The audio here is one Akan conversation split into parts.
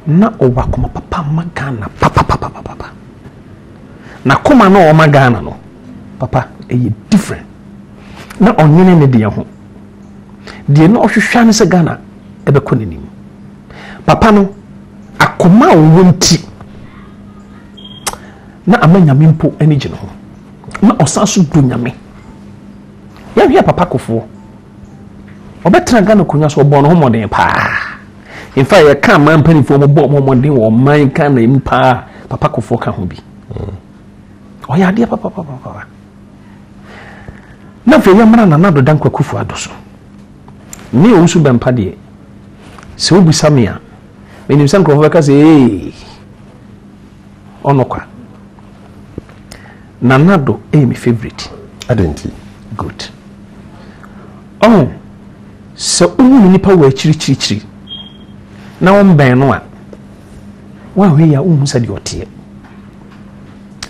Na ɔwɔ akoma papa ma Ghana papapapapapa. N'akoma no a ɔwɔ ma Ghana no, papa, ɛyɛ different. Na ɔnyene ne deɛ ho. Deɛ na ɔhwehwɛ ne sɛ Ghana ɛbɛkɔ n'anim. Papa no, akoma a ɔwɔ nti, na ama nyame mpo ani gye ne ho. Na ɔsan so dɔ nyame. Yɛhwɛ papa kofoɔ. Ɔbɛtena Ghana akonnwa so, ɔbɔɔ ne ho mmɔden paa. In fact, yɛka aman mpanimfoɔ a wɔbɔ wɔn mmɔden wɔ ɔman Ghana mu paa, Papa Kofoɔ ka ho bi. Ɔyɛ adeɛ papapapa. Na afei yɛmmra Nana Addo Dankwa Akufo-Addo so. Me Owusu Bɛmpa deɛ, sɛ wobisa me a, menim sɛ nkurɔfoɔ bɛka sɛ ee, Ɔno kwa. Nana do ɛyɛ me favourite. Adɛn nti? Good. Ɔho sɛ wohu ne nipa wɔ akyirikyirikyiri na wombɛn no a woahwɛ yi a wonhu sɛdeɛ ɔteɛ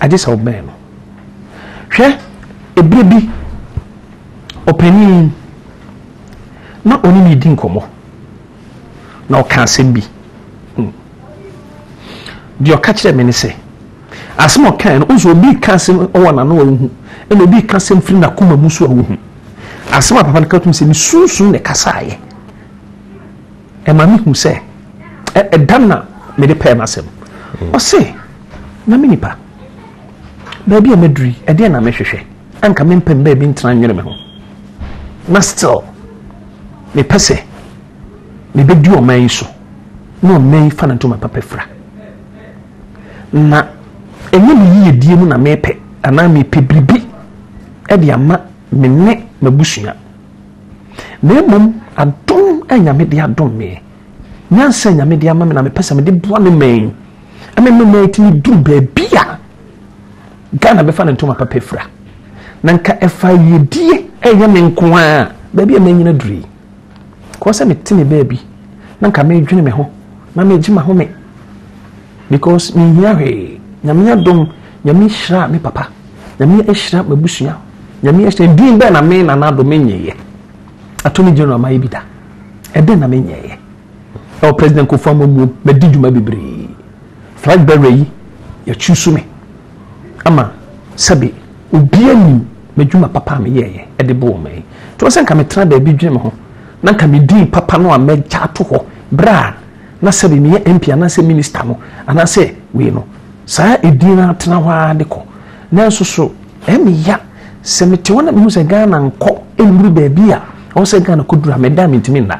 agye sɛ wobɛn no hwɛ ɛberɛ bi ɔpanin na ɔne ne di nkɔmmɔ na ɔka asɛm bi hmm. deɛ ɔka kyerɛ me ne sɛ asɛm ɔkae no ɔsɛ obi ka asɛm wɔ n'ano a wohu ɛna obi ka asɛm firi n'akoma mu so a wohu asɛm a papa no ka tum sɛ ne sunsun na ɛkasaeɛ ɛma me hu sɛ ɛda na mede pɛɛ no asɛm hmm. ɔse na me nipa baabi a maduri ɛdeɛ na mehwehwɛ anka mempɛ mbaa bi ntena nwene me ho na still Mepɛ sɛ mebɛdi ɔman yi so na ɔman yi fa no ntoma papa fira. Na ɛnyɛ me yiyedie mu na mepɛ anaa mepɛ biribi de ama me ne m'abusua. Na mmom adom a Nyame de adom me, nyansa a Nyame de ama me na mepɛ sɛ mede boa me man yi. Ɛma me man yi tumi duru baabi a Ghana bɛfa ne ntoma papa fira na nka ɛfa yiedie ɛnyɛ me nko a baabi a manyina duru yi kɔɔ sɛ mete me baabi na nka medwene me ho na megye ma home because menhia hwee nyame adom nyame hyira me papa nyame ahyira m'abusua nyame ahyira din bɛɛ na me nanado menyɛeɛ attorney general mayɛ bi da ɛdɛn na menyɛeɛ Ɛwɔ President Kofour amammuom, madi dwuma bebree. Flag bearer yi, yɛakyuusu me ama sɛbe obiara nim m'adwuma papa a meyɛeɛ de bɔɔ ɔman yi. Nti sɛ nka metena baabi dwene me ho na nka me din papa no a mɛgya ato hɔ berɛ a na sɛbe meyɛ MP anaasɛ Minister no anaasɛ wei no, saa edin no atena hɔ ara de kɔ. Nanso so ɛyɛ me ya sɛ mete hɔ na mehu sɛ Ghana nkɔ nnuru baabi a ɛwɔ sɛ Ghana kɔduru a meda a mentumi nna.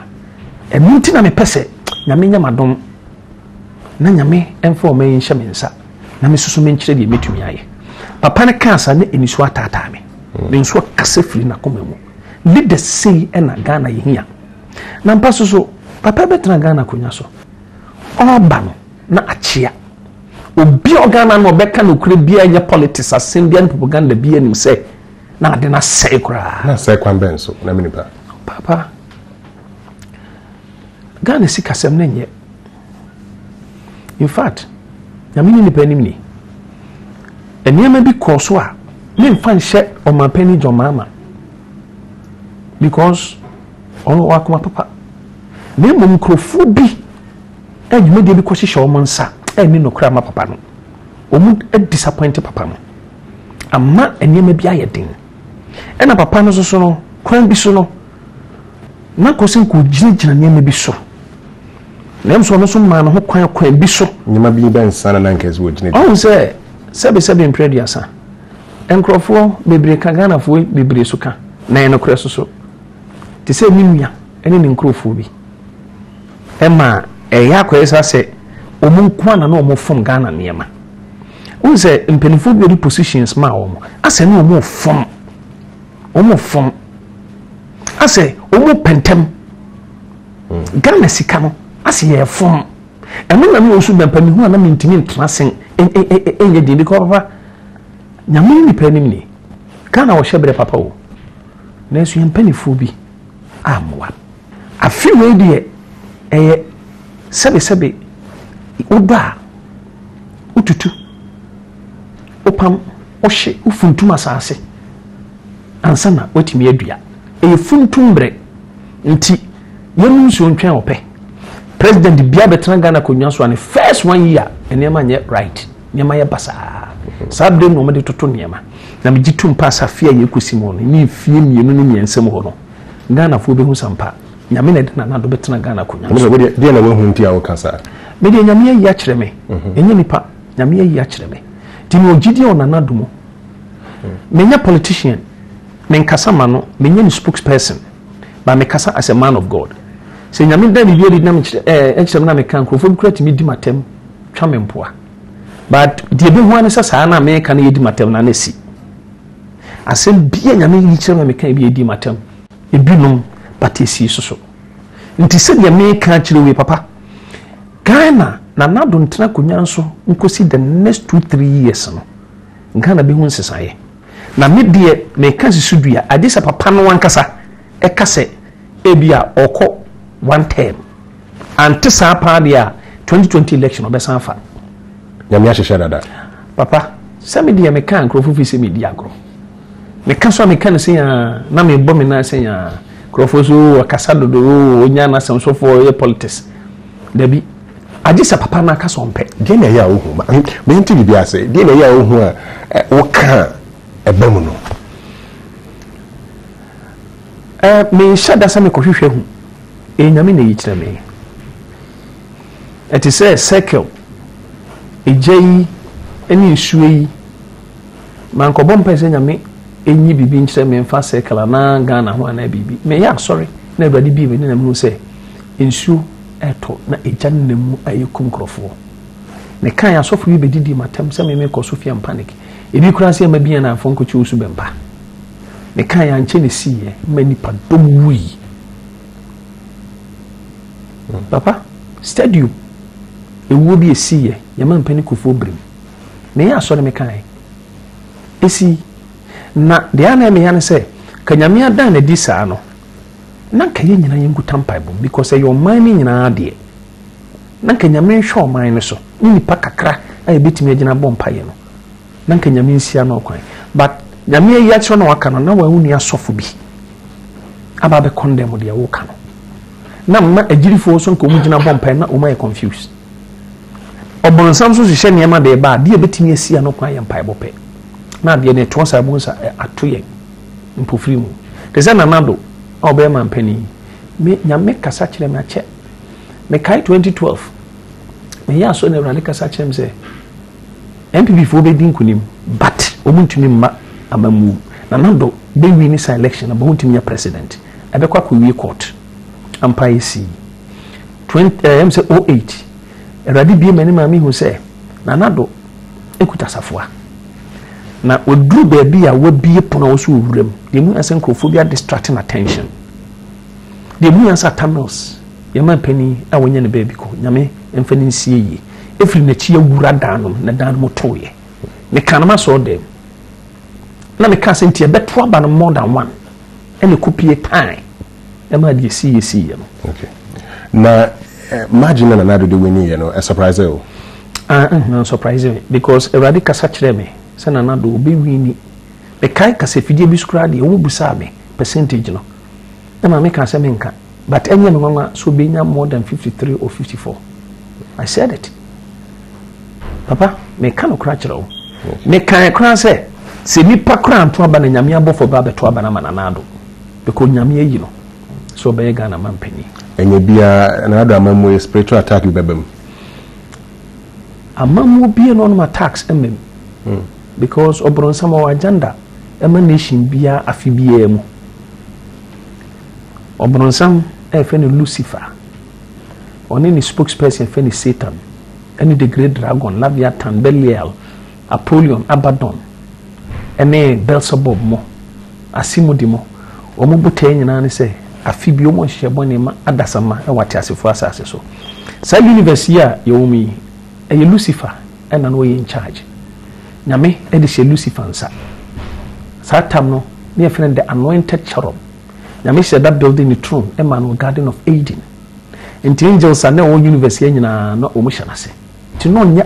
ɛno nti na mepɛ sɛ nyame nyɛ m'adom na nyame ɛmfa ɔma yi nhyɛ me nsa na mesusu menkyerɛ deɛ mɛtumi ayɛ papa no kaa saa ne ɛnisuo ataataa me ne mm. nsuo kasa firi nakoma mu leaders sei ɛna ghana yɛhia na mpa so so papa bɛtena ghana akonnwa so ɔba no na akyea obi a ɔghana no ɔbɛka no kura biara nyɛ politics asɛm biara ne propaganda biara nim sɛ na ade no asɛe koraa na sɛ kwan bɛn so na me nipa papa Ghana sikasɛm no nyɛ. In fact, nyame ne nipa anim ni. Nneɛma bi kɔɔ so a memfa nhyɛ ɔmanpanin John Mahama because ɔwɔ akoma papa na mmom nkurɔfoɔ bi a dwumadie bi kɔhyehyɛ wɔn nsa ɛnni nokora ma papa no wɔn disappoint papa no ama nneɛma bi ayɛ den ɛna papa no soso no kwan bi so no na kɔ sɛ nka ogyinagyina nneɛma bi so. Nanso ɔno nso maa ne ho kwan kwan bi so. Nneɛma bi bɛn nsa na na nka ɛsɛ ogyinagyina? Ɔhu sɛ sɛbesɛbe mprɛ aduasa. Nkurɔfoɔ bebree ka Ghanafoɔ bebree so ka na ɛyɛ nokorɛ so so. Te sɛ ne nua ne ne nkurɔfoɔ bi. Ɛma ɛyɛ akɔyɛ saa sɛ wɔn nko ara na na wɔfom Ghana nneɛma. Wohu sɛ mpanimfoɔ bi a wɔde positions maa wɔn asɛ ne wɔfom. wɔn fɔn asɛ wɔn pɛ ntɛm ghana sika no asɛ yɛ fɔn ɛno na mi wɔn so bɛnpa mi hu a na mi ntumi ntena sen ɛnyɛ den bi kɔ papa nyame nipa anim ni ghana wɔhyɛ brɛ papa o nanso yɛn mpanimfoɔ bi a mmoa. Afe wei deɛ ɛyɛ sɛbesɛbe wodɔ a wotutu wopam wohye wofuntum asase ansa na woatumi adua ɛyɛ funtum mmerɛ nti yɛnum nsuo ntwɛn ɔpɛ president bia bɛtena Ghana akonnwa so a ne first one year nneɛma nyɛ right nneɛma yɛ basaa saa bere na wɔde toto nneɛma na megye tom paa sɛ afe a yɛkɔsi mu no ne mfie mmienu ne mmiɛnsa mu hɔ no Ghanafoɔ bɛhu sa mpa. Nyame na ɛde nanado bɛtena Ghana akonwa so. Wodeɛ deɛ na wahu nti a woka saa? Me deɛ Nyame ayi akyerɛ me. Ɛnyɛ nipa. Nyame ayi akyerɛ me. Nti me wɔ gyidie wɔ nanado mu. Me nyɛ politician. Me nkasa ma no. Me nyɛ ne spokesperson. But me kasa as a man of God. Sɛ Nyame da biribi adi na me kyerɛ ɛɛ eh, ɛkyerɛ me na me ka nkurɔfoɔ bi kura tumi di matam twa me mpoa. But deɛ bɛhu ane sɛ saa na meka no yɛ di matam na na si. Asɛm bi a Nyame yi kyerɛ ma me kae bi a edii m'atam. Ebinom but esi so so. Nti sɛdeɛ meka akyerɛ wo yi papa, Ghana Nana Addo ntena akonwa nso nkosi the next two three years no, Ghana bɛhu nsesaeɛ. Na me deɛ meka si so dua, agye sɛ papa no ankasa ɛka sɛ ebia ɔkɔ one term. Ante saa paa deɛ a twenty twenty election ɔbɛsan afa. Nyame ahyehyɛ dada. Papa sɛ me deɛ meka nkurɔfo fi sɛ medi agorɔ meka so a meka no sɛ yaa na mebɔ me nan sɛ yaa nkurɔfoɔ so ɔkasa dodo ɔnya n'asɛm sofoɔ ɔyɛ politics dabi agye sɛ papa no aka sɛ ɔmpɛ deɛ na ɛyɛ a wohu mente biribi ase deɛ na ɛyɛ a wohu a woka a ɛba mu no menhyɛ da sɛ mekɔhwehwɛ hu Ee, Nyame na eyi kyerɛ me. Ɛte sɛ circle, egya yi ne nsuo yi. Mankɔbɔ mpae sɛ Nyame nyi biribi nkyerɛ me mfa circle anaa Ghana ho anaa biribi. Meyɛ asɔre na Awurade bie m'ani na mehu sɛ nsuo ɛtɔ na egya no nam mu a ɛkum nkurɔfoɔ. Mekae asɔfo yi bɛdidi m'atam sɛ me mekɔ so fia mpanik. Ebi koraa sɛ ɛma bia na afɔnkɔkye osu bɛmpa. Mekae ankyɛ na ɛsiiɛ ma nipa dɔm wui. Papa, stadium ewuo bi esii yɛ yɛ man panin kufuo bere mu. Me yɛ asɔre me kan esi na deɛ ana ɛmɛ ya ne sɛ ka nyame adan na di saa no na nka yɛ nyinaa yɛn nkuta mpaebom because ɛyɛ ɔman ne nyinaa adeɛ na nka nyame nhwɛ ɔman no so ne nipa kakra a yɛbɛtumi agyina bɔ mpaeɛ no na nka nyame nsia no ɔkwan but nyame ayi akyerɛ na waka no na wɔn ni asɔfo bi aba abɛ condemn deɛ woka no na mma agyirifoɔ nso nka wɔn gyina bɔ mpae na wɔn ayɛ confused ɔbɔnsam nso hyehyɛ nneɛma de ba a deɛ ebetumi asia no kwan yɛ mpaebɔ pɛ na adeɛ no ɛtoɔ saa mu nsa ato yɛn mpofiri mu te sɛ nanado a ɔbɛyɛ mampanin yi me nyame kasa kyerɛ me akyɛ mekae 2012 meyɛ asɔ na awurade kasa kyerɛ me sɛ NPP foɔ bɛdi nkunim but ɔmo ntumi mma amammuo. Nana Addo bɛ wini saa election no but ɔntumi nyɛ president. Ɛbɛkɔ akɔ wie court. Ampa ayɛ sii. Twenty ɛɛ ɛm sɛ oh eight. Awurade bie m'anim a mehu sɛ Nana Addo ekuta safoa. Na waduru baabi a wabie pono a ɔsɛ owura mu. Deɛ mu yɛ sɛ nkurɔfoɔ bi adistracting attention. Deɛ ɛmu yɛn sa Tamils yɛn man panin a wɔnya ne baabi kɔ nyame mfa ne nsie yie ɛfiri n'akyi awura dan no na dan no mu toeɛ mekaa no masɔɔ dɛm na mekaa sɛ nti ɛbɛto aba no more than one ɛna ɛkɔpie tan ɛma adeɛ si yɛ si yɛ no okay. na eh, margin na nana dode wini yɛ no ɛ surprise o ah, eh, na surprise me because awurade kasa kyerɛ me sɛ nana do wobɛwini mekae kasafidie bi so koraa deɛ wɔbusaa me percentage no ɛma me kaa sɛ me nka but ɛnyɛ me nwanwa sɛ obenya more than fifty three or fifty four I said it papa me ka no kora kyerɛ wo me kan kora sɛ sɛ nipa kora nto aba na nyame abɔfo ba abɛto aba na ma nana ado because nyame ayi no sɛ ɔbɛyɛ Ghana man panyin ɛnyɛ biara na ado ama mu spiritual attack bi bɛba mu ama mu bie no ɔnom attacks mmam hmm. because ɔbrɔnsam ɔwɔ agenda ɛma nation biara afe biara mu. Ɔbronsam a yɛfrɛ no Lucifer, ɔne ne spokesperson yɛfrɛ no Satan, ɛne the great dragon, Leviathan, Belial, Apollyon, Abaddon, ɛne Beelzebub mo, asemudi mo, wɔn botae nyinaa ne sɛ afe bi wɔn nhyehyɛ bɔne ma adasamma wɔ ateasefoɔ asase so. Saa universe yi a yɛwɔ mu yi, ɛyɛ Lucifer ɛna na ɔyɛ in charge. Nyame ɛde hyɛ Lucifer nsa. Saa tam no ne yɛfrɛ no the anointed cherub. Nyame hyɛ da building ne throne ɛma no garden of Eden. Nti angels a na ɛwɔ universe yɛ nyinaa na wɔn hyɛ n'ase. Nti na ɔnyɛ